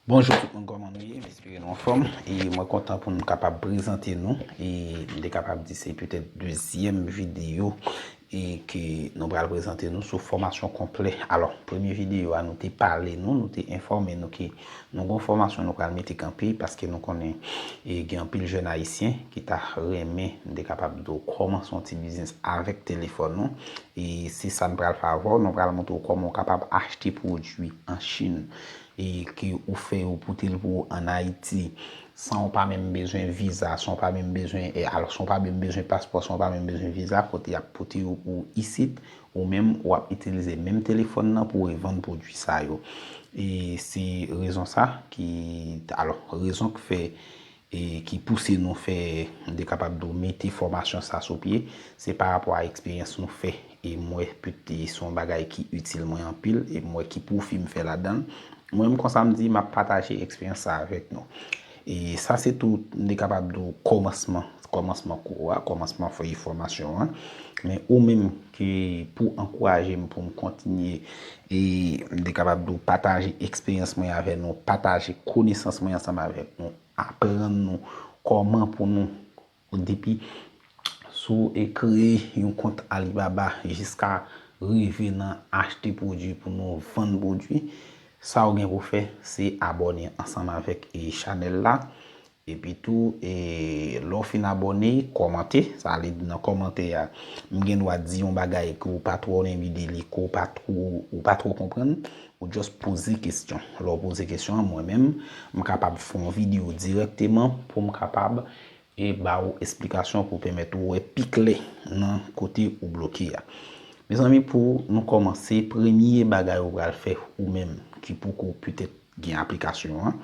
Bonjou tout moun kòman nou ye m espere nou anfòm e mwen kontan pou m kapab prezante nou e m te kapab di se petèt dezyèm videyo e ke nou pral prezante nou sou fòmasyon konplè alò premye videyo a nou te pale nou nou te enfòme nou ke Nou gon fòmasyon nou pral mete kanpe paske nou konnen e gen anpil jèn ayisyen ki ta renmen nou te kapab di w kòmanse yon ti biznis avèk telefòn ou e se sa n pral fè avè w nou pral montre w kòman ou kapab achte pwodui an chin e ke ou fè yo pote l pou ou an ayiti san w pa menm bezwen viza san w pa menm bezwen e al san w pa menm bezwen paspò san w pa menm bezwen viza kote y ap pote yo pou ou isit. Ou menm wap itilize menm telefòn nan pou revann pwodwi sa yo. E se rezon sa ki, alò, rezon k fè e ki pouse nou fè, m te kapab di w, mete fòmasyon sa sou pye, se pa rapò a eksperyans nou fè. E m wè pèt se yon bagay ki itil mwen anpil e m wè ki pwofi m fè ladan l. Mwen menm konsa m di map pataje eksperyans sa avèk nou. E sa se tou, m te kapab di w, kòmansman, kòmansman kou a, kòmansman fèy fòmasyon an. Men ou menm ke pou w ankouraje m pou m kontinye e m te kapab di w pataje eksperyans mwen avè nou, pataje konesans mwen ansanm avèk nou, aprann nou kòman pou nou Bon depi sou kreye yon kont Alibaba jiska rive nan achte pwodwi pou nou vann pwodwi, sa ou gen pou fè se abòne ansanm avèk chanèl la. Epi tou lè w fin abòne, kòmante, sa vle di nan kòmantè a m gen dwa di yon bagay ke w pa twò renmen de li, ke w pa twò, ou pa twò konprann, ou just poze kesyon. Lè w poze kesyon an mwen menm m kapab fè yon videyo dirèkteman pou m kapab e ba ou esplikasyon pou pèmèt ou wè pi klè nan kote ou bloke a. Mezanmi pou nou kòmanse, premye bagay ou pral fè ou menm ki poko petèt gen aplikasyon an,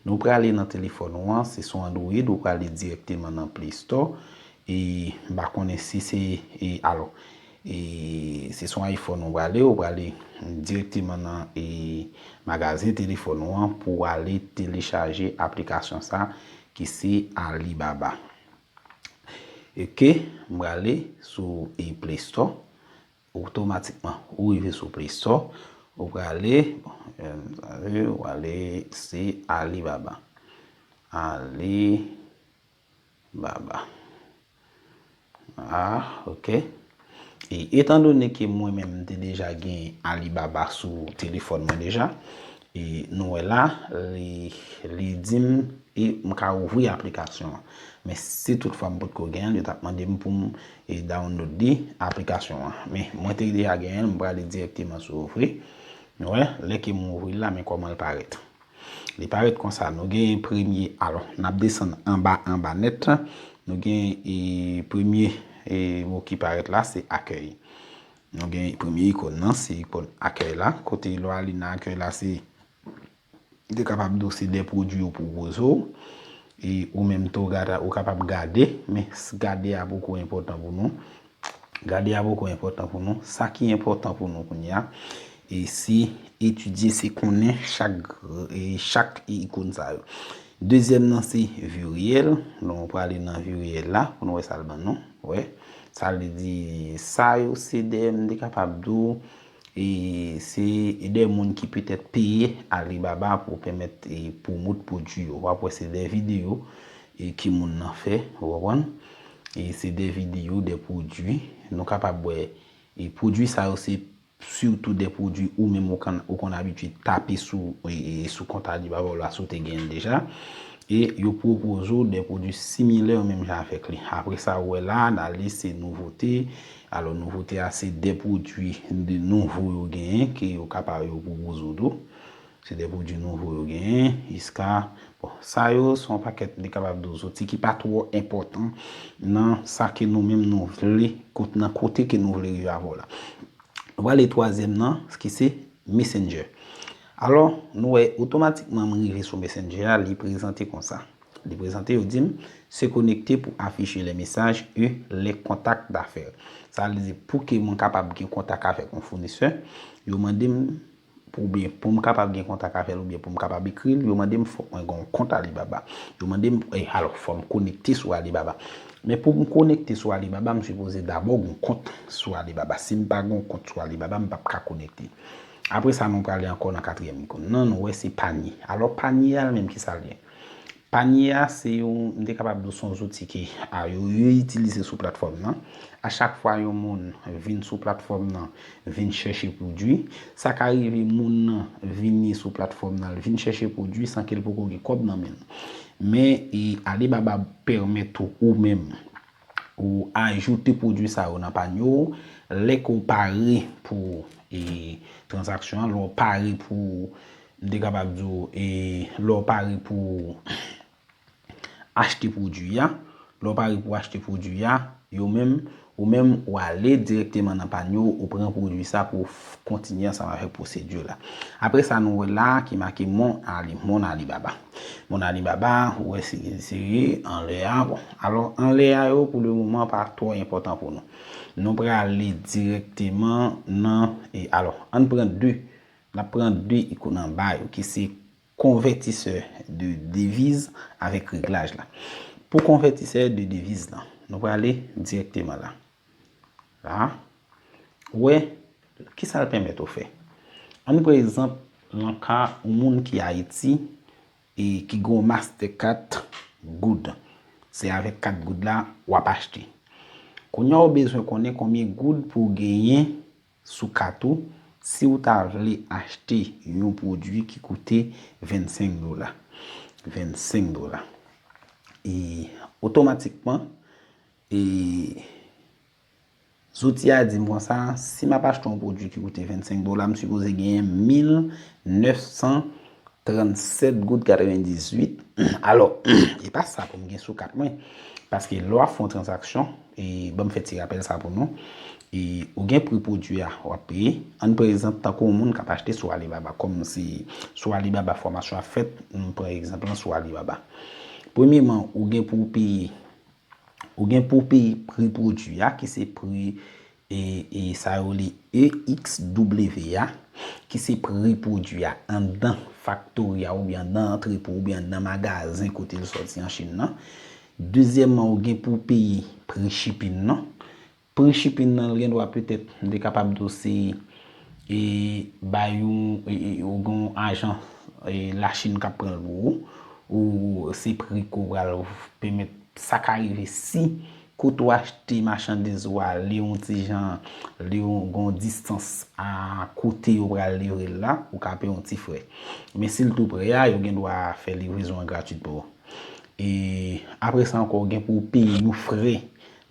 nou prale nan telefòn ou an, se sou Android ou prale dirèkteman nan Play Store e m pa konnen si se e alò e se sou iPhone ou prale, ou prale dirèkteman nan e magazen telefòn ou an pou ale telechaje aplikasyon sa Ki se Alibaba. Ok, m prale sou Play Store. Otomatikman, ou rive sou Play Store. Ou prale, ou prale se Alibaba. Alibaba. Ah ok e etan done ke mwen menm m te deja gen Alibaba sou telefòn mwen deja e nou wè la li di m e m ka ouvri aplikasyon an men si tout fwa m pot ko gen l yo t ap mande m pou m download li aplikasyon an men mwen te deja gen l m prale direkteman sou ouvri nou wè lè ke m ouvri l la men kòman l parèt. Li pa ret konsa. Nou genyen premye, alò, n ap desann anba anba nèt. Nou gen e premye e mo ki parèt la se akèy. Nou gen premye ikon nan se ikon akèy la. Kote lè w ale nan akèy la se de kapab di w se de pwodui yo pou wozo. E ou menm tou ou kapab gade. Men gade a poko enpòtan pou nou. Gade a poko enpòtan pou nou. Sa ki enpòtan pou nou kounye a, e se etidye, se konnen chak ikon sa yo. Dezyèm nan se vi reyèl. Donk nou prale nan vi reyèl la pou nou wè sa l ban nou. Wè. Sa l vle di, sa yo se de m te kapab di w, e se de moun ki petèt peye Alibaba pou pèmèt pwomote pwodui yo. W ap wè se de videyo E ki moun nan fè, ou konprann? E se de videyo, de pwodui. Nou kapab wè, e pwodui sa yo se sitou de pwodui ou menm ou konn, ou konn abitye tape sou, e sou kont Alibaba w la si w te gen l deja. E yo pwopoze w de pwodui similè menm jan avèk li. Apre sa ou wè la, nan lis se nouvote. Alò nouvote a se de pwodui nouvo yo genyen ke yo kapab yo pwopoze w tou. Se de pwodwi nouvo yo genyen, iska. Bon, sa yo se yon pakèt li kapab di w zouti ki pa twò enpòtan nan sa ke nou menm nou vle, nan kote ke nou vle rive avè w la. Nou prale twazyèm nan, ki se Messenger. Alò, nou wè otomatikman m rive sou Messenger a, li prezante konsa. Li prezante, yo di m, Se connecter pour afficher les messages et les contacts d'affaires. Sa vle di pou ke mwen kapab gen kontak avèk yon founisè, yo mande m oubyen pou m kapab gen kontak avè l oubyen pou m kapab ekri l, yo mande m fòk mwen gen yon kont Alibaba. Yo mande m, e alò fò m konekte sou Alibaba. Men pou m konekte sou Alibaba, m sipoze dabò gen yon kont sou Alibaba. Si m pa gen yon kont sou Alibaba, m pap ka konekte. Apre sa nou prale ankò nan katriyèm ikon nan, nou wè se panye. Alò panye a li menm ki sa l ye? Panye a se yon, m te kapab di w se yon zouti ki a yo itilize sou platfòm nan. A chak fwa yon moun vin sou platfòm nan vin chèche pwodui, sa ka rive moun nan vini sou platfòm nan l vin chèche pwodui san ke l poko gen kòb nan men l. Men Alibaba pèmèt ou ou menm Ou ajoute pwodwi sa yo nan panye ou. Lè ke w pare pou transaksyon an, lè w pare pou, m te kapab di w, lè w pare pou achte pwodwi a, lè w pare pou achte pwodwi a, yo menm, ou menm ou ale direkteman nan panye ou, ou pran pwodwi sa pou w kontinye ansanm avèk pwosedi w la. Apre sa nou wè la ki make mon Alibaba. Bon Alibaba, ou wè si li serye, anlè a, bon. Alò, anlè a yo pou le moman pa twò enpòtan pou nou. Nou prale dirèkteman nan, e alò, ann pran 2, n'ap pran 2 ikon anba yo ki se konvètisè de deviz avèk reglaj la. Pou konvètisè de deviz lan, nou prale dirèkteman la. La, ou wè, ki sa l pèmèt ou fè? An n pran egzanp nan ka yon moun ki Ayiti e ki gen yon mastè kat goud. Se avèk kat goud la w ap achte. Kounye a ou bezwen konnen konbyen goud pou w genyen sou kat ou si ou ta vle achte yon pwodui ki koute 25 dola. 25 dola. E otomatikman. E zouti a di m konsa, si m ap achte yon pwodui ki koute 25 dola, m sipoze genyen 1937 goud 98. Alò, e pa sa pou m gen sou kat mwen. Paske lè w ap fè yon transaksyon, e ban m fè ti rapèl sa pou nou, e ou gen pri pwodui a w ap peye. Ann pran egzanp tankou yon moun k ap achte sou Alibaba. Kòm se sou Alibaba fòmasyon an fèt, m pran egzanp lan sou Alibaba. Premyeman, ou gen pou w peye Ou gen pou peye pri pwodui a ki se pri e sa yo rele EXW a ki se pri pwodui a anndan faktori a oubyen anndan antrepo oubyen anndan magazen kote l sòti an Chin nan. Dezyèman ou gen pou peye pri chipin nan. Pri shipping nan l gen dwa petèt m te kapab di w se e bay yon ou gen yon ajan lachin k ap pran l pou ou ou se pri ke w pral pèmèt sa ka rive si kote ou achte machandiz ou a li yon ti jan li yon gen yon distans a kote yo pral livre l la ou ka peye yon ti frè men si l tou prè a yo gen dwa fè livrezon an gratis pou ou e apre sa ankò gen pou w peye yon frè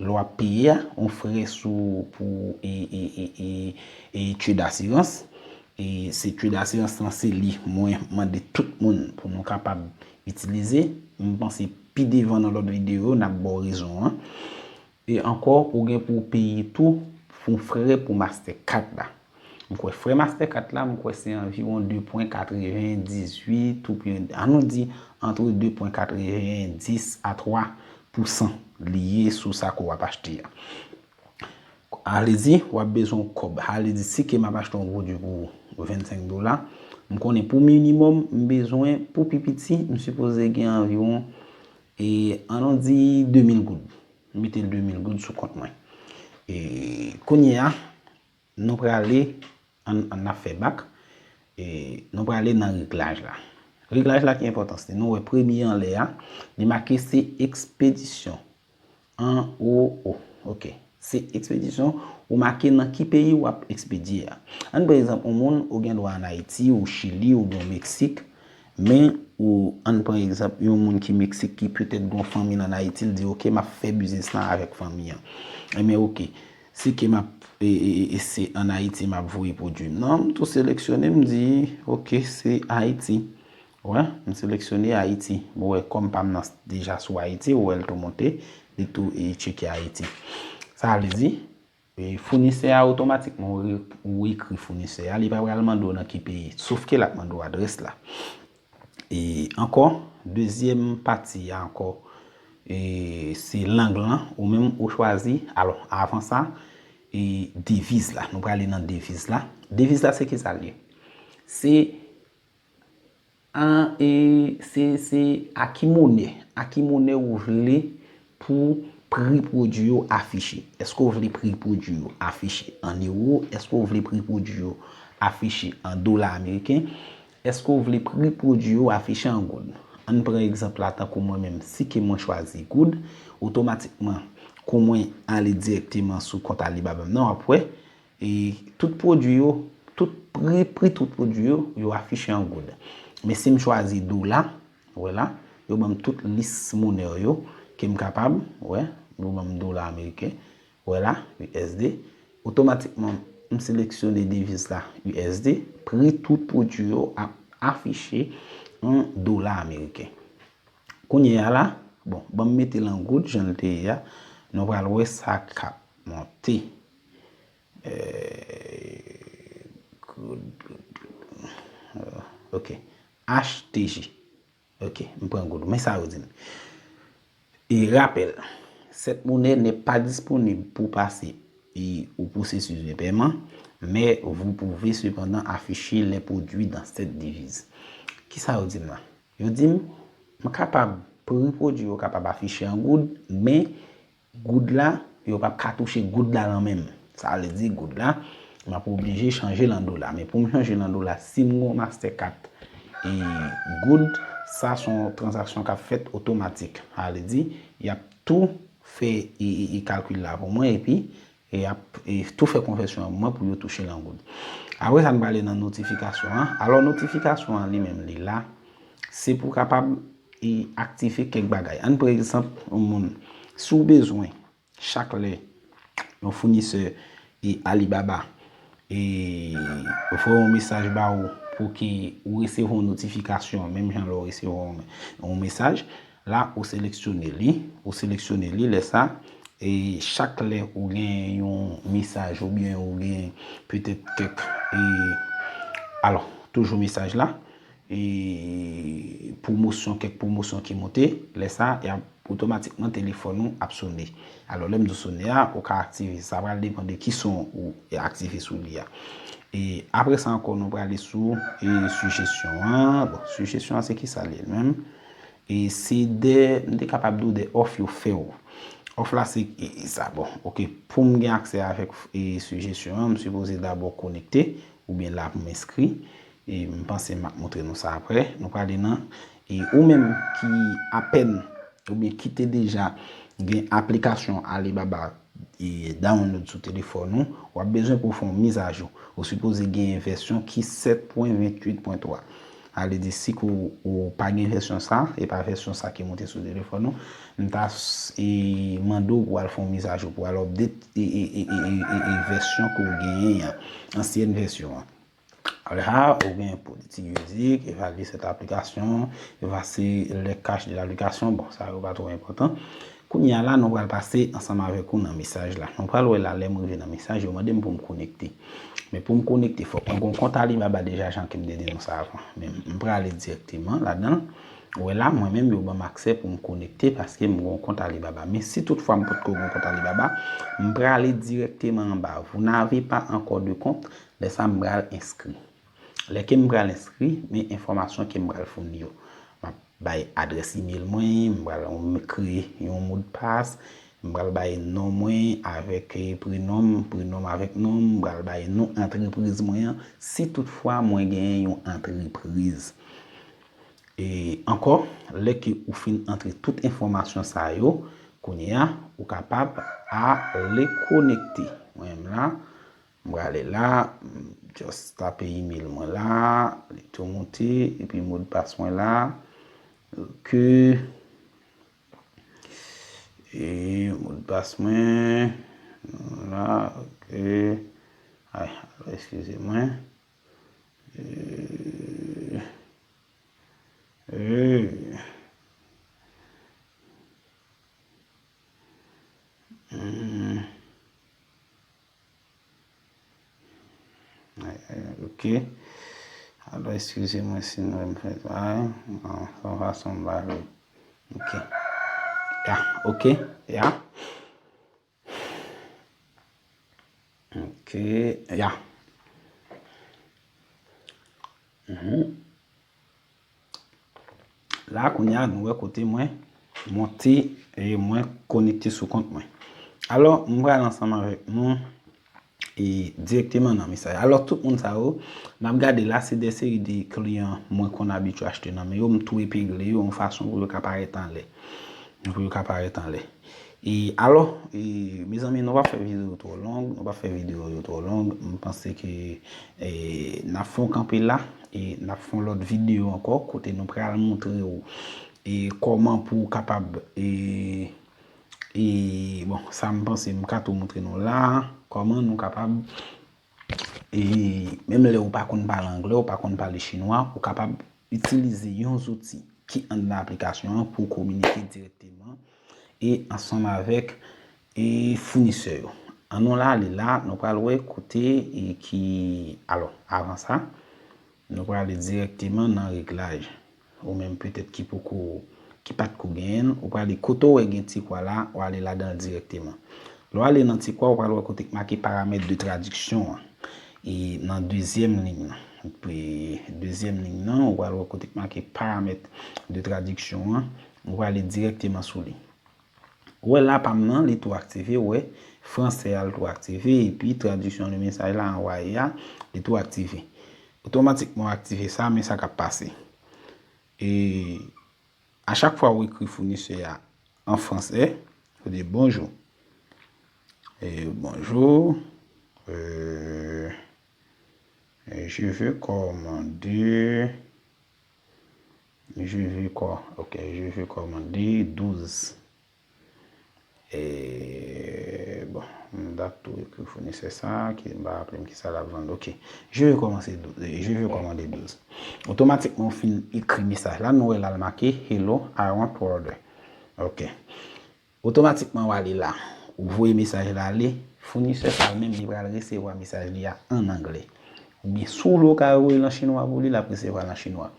Lè wap peye a, yon frè sou pou etude d'assurance, e se etude d'assurance lan se li mwen mande tout moun pou nou kapab itilize, m panse pi devan nan lòt videyo yo nap baw rezon an. E ankò ou gen pou peye tou pou frè pou master card la. M kwè frè master 4 la m kwè se anviwon 2 pwen 98 ou byen an nou di antre 2 pwen 90 a 3 pou san li ye sou sa ke w ap achte a. A vle di w ap bezwen yon kòb. A vle di si ke m ap achte yon pwodui pou 25 dola, m konnen pou minimòm m bezwen pou pi piti m sipoze gen anviwon e an nou di 2000 goud. M mete 2000 goud sou kont mwen. E kounye a. Nou prale, an nap fè bak, nou prale nan reglaj la. Reglaj la ki enpòtans li. Nou wè premye anlè a, li make se ekspedisyon. An o o. Ok. Se ekspedisyon, ou make nan ki peyi wap ekspedye a. An pran egzanp yon moun, ou gen dwa an Ayiti, ou Chili, ou byen Meksik, men ou an pran egzanp yon moun ki Meksik ki petèt gon fanmi nan Ayiti, li di ok, map fè biznis lan avèk fanmi an. Enben ok. Si ke map se an Ayiti map voye pwodwi m nan, m tou seleksyone m di ok se Ayiti. Ou wè, m seleksyone Ayiti. Ou wè kòm pa m nan deja sou Ayiti, ou wè l tou monte, li tou tcheke Ayiti. Sa vle di, founisè a otomatikman ou ekri founisè a, li pa pral mande w nan ki peyi, sof ke l ap mande w adrès la. E ankò, dezyèm pati a ankò, e se lang lan ou menm ou chwazi. Alò, avan sa, e deviz la. Nou prale nan deviz la. Deviz la se ki sa l ye? Se a, e se a ki monè. A ki monè ou vle Pou pri pwodui yo afiche. Èske w vle pri pwodui yo afiche an ewo? Èske w vle pri pwodui yo afiche an dola ameriken? Èske w vle pri pwodui yo afiche an goud? An n pran egzanp la tankou mwen menm, si ke mwen chwazi goud, otomatikman kou mwen ale dirèkteman sou kont Alibaba m nan, w ap wè e tout pwodui yo, tout pri, pri tout pwodui yo, yo afiche an goud. Men si m chwazi dola, Ou wè la, yo ban m tout lis monè yo ke m kapab, ou wè, yo ban m dola ameriken, ou wè la, USD. Otomatikman, m seleksyone deviz la, USD, pri tout pwodui yo ap afiche an dola ameriken. Kounye a la, bon, ban m mete l an goud jan l te ye a, nou pral wè sa k ap monte. Eeee, goud, goud, goud, ok, HTJ, Ok, m pran goud ou. Men sa yo di m. E rapèl, sèt monè nè pa disponib pou pase e ou pwosesis de pèman, men vou pouve sepandan afiche lè pwodui dan sèt diviz. Ki sa yo di m lan? Yo di m, m kapab pri pwodui yo kapab afiche an goud, men Goud la, yo pap ka touche goud la lan menm. Sa vle di goud la, map oblije chanje lan dola. Men poum chanje lan dola, sim gon master card e goud, sa son transaksyon kap fèt otomatik. Sa vle di, yap tou fè e kalkil la pou mwen epi E yap tou fè konvèsyon an mwen pou yo touche lan goud. Apre sa n prale nan notifikasyon an. Alò notifikasyon an li menm li la. Se pou kapab e aktive kèk bagay. An pre egzanp yon moun. Si w bezwen chak lè yon founisè e Alibaba e voye yon mesaj ba ou pou ki ou resevwa yon notifikasyon menm jan lè w resevwa yon mesaj. La ou seleksyone li, ou seleksyone li lè sa, e chak lè ou gen yon mesaj ou byen ou gen petèt kèk e alò toujou mesaj la e pwomosyon kèk pwomosyon ki moute lè sa y ap otomatikman telefòn ou ap sone alò lè m di sone a ou ka aktive sa pral depan de ki son ou aktive sou li a e apre sa ankò nou prale sou e sijesyon an bon sijesyon an se ki sa li menm. E se de, m te kapab di w de òf yo fè w. Òf la se e sa bon. Ok, pou m gen aksè avèk e sijesyon an, m sipoze dabò konekte, ou byen la pou m enskri. E m panse m ap montre nou sa aprè. Nou prale nan. E ou menm ki apèn, ou byen ki te deja gen aplikasyon Alibaba. Download sou telefòn ou, w ap bezwen pou w fè yon mizajou. Ou sipoze genyen vèsyon ki 7.28.3. A vle di si ke w pa gen vèsyon sa, e pa vèsyon sa ki moute sou telefòn ou, m ta mande w pou w al fè yon mizajou, pou w al update vèsyon ke w genyen an, ansyèn vèsyon an. Alha ou gen politik juridik, evalye sèt aplikasyon, evase lè kach de l'aplikasyon, bon sa yo pa twò enpòtan. Kounye a la nou pral pase ansanm avèk ou nan mesaj la. Nou pral wè la lè m rive nan mesaj yo mande m pou m konekte. Men pou m konekte fòk mwen gon kont Alibaba deja jan ke m te di nou sa avan. Men m prale direkteman ladan l. Ou wè la mwen menm yo banm aksè pou m konekte paske m gon kont Alibaba. Men si tout fwa m potko gon kont Alibaba, m prale direkteman anba. Vous n'avez pas encore de compte. Lè sa m pral enskri. Lè ke m pral enskri, men enfòmasyon ke m pral founi yo. M ap bay adrès email mwen, m pral kreye yon modpas, m pral bay non mwen avèk prenom m, prenom m avèk non m, m pral bay non antrepriz mwen an, si tout fwa mwen genyen yon antrepriz. E ankò, lè ke ou fin antre tout enfòmasyon sa yo, kounye a, ou kapab ale konekte. Mwen menm la, M prale la, m just tape email mwen la, li tou moute, epi modpas mwen la, ok, e modpas mwen, la, ok, ay, eskize mwen, eee, eee, eee, eee. Ok. Alò eskize mwen si m renmen fè sa. An son fason m pale. Ok. Ya. Ok. Ya. Ok. Ya. Hum. La kounya nou wè kote mwen monte e mwen konekte sou kont mwen. Alò, m pral ansanm avèk nou e direkteman nan mesaj. Alò, tout moun sa yo, n ap gade la se de seri de kliyan mwen konn abitye achte nan men yo, m tou epegle yo yon fason pou yo ka parèt anlè. Pou yo ka parèt anlè. E alò, mezanmi nou pa fè video yo twò long, nou pa fè video yo twò long, m panse ke n ap fè yon kanpe la, e n ap fè yon lòt video ankò kote nou pral montre ou e kòman pou ou kapab e e bon sa m panse m ka tou montre nou la, kòman nou kapab E menm lè ou pa konn pale anglè, ou pa konn pale chinwa, ou kapab itilize yon zouti ki anndan aplikasyon an pou w kominike dirèkteman e ansanm avèk e founisè yo. An nou ale la, nou pral wè kote e ki, alò, avan sa, nou pral ale dirèkteman nan reglaj. Ou menm petèt ki poko, ki pat ko genyen l, ou prale kote w wè gen ti kwa la, w ale ladan l dirèkteman. Lè w ale nan ti kwa, ou pral wè kote ki make paramèt de tradiksyon an. E nan dezyèm liy nan. Dezyèm liy nan, ou pral wè kote ki make paramèt de tradiksyon an. Ou prale dirèkteman sou li. Wè la pam nan li tou aktive wè fransè a li tou aktive epi tradiksyon le mesaj la anwaye a li tou aktive otomatikman w aktive sa men sa kap pase e a chak fwa ou ekri founisè a an fransè ou di bonjou e bonjou eee je veux commander Je veux kò ok je veux kò mande 12 eee bon m tap tou ekri founisè sa ki m pa raplem kisa lap vann ok je veux kòmanse je veux kò mande 12 otomatikman ou fin ekri mesaj la nou wè la l make hello I want to order ok. Otomatikman wa li la. Ou voye mesaj la ale, founisè sa menm li pral resevwa mesaj li a an angle. Oubyen si w vle w ka voye l an chinwa pou li, l ap resevwa l an chinwa.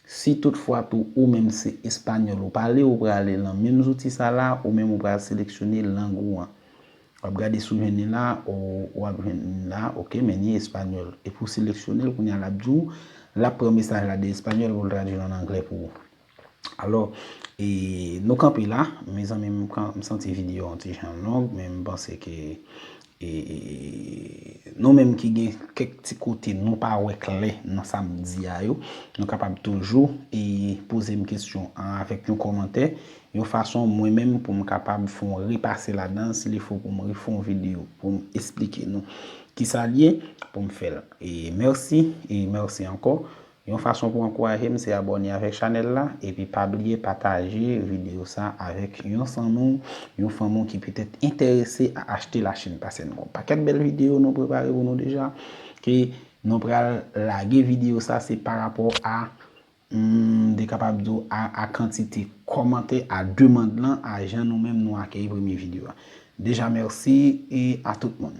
Si tout fwa tou ou menm se espanyòl ou pale, ou prale lan menm zouti sa la, ou menm ou pral seleksyone lang ou an. W ap gade si w jwenn li la, ou ap jwenn li la, ok men ni espanyòl. Epi w seleksyone l, kounye a l ap di w, l ap pran mesaj la de espanyòl pou l tradui l an angle pou ou. Alò, e nou kanpe la, mezanmi m santi video an ti jan long, men m panse ke e nou menm ki gen kèk ti kote nou pa wè klè nan sa m di a yo, nou kapab toujou e poze m kesyon an avèk yon kòmantè, yon fason mwen menm pou m kapab fè yon repase ladan, si li fò pou m refè yon video pou m esplike nou ki sa l ye, pou m fè l. E mèsi, e mèsi ankò. Yon fason pou ankouraje m se abòne avèk chanèl la epi pa bliye pataje videyo sa avèk yon zanmi w, yon fanmi w ki petèt entèrese a achte la Chine pase nou. Yon pakèt bèl videyo nou prepare pou nou deja ke nou pral lage videyo sa se pa rapò a m te kapab di w a kantite kòmantè a demand lan a jan nou menm nou akeyi premye videyo a. Deja mèsi e a tout moun.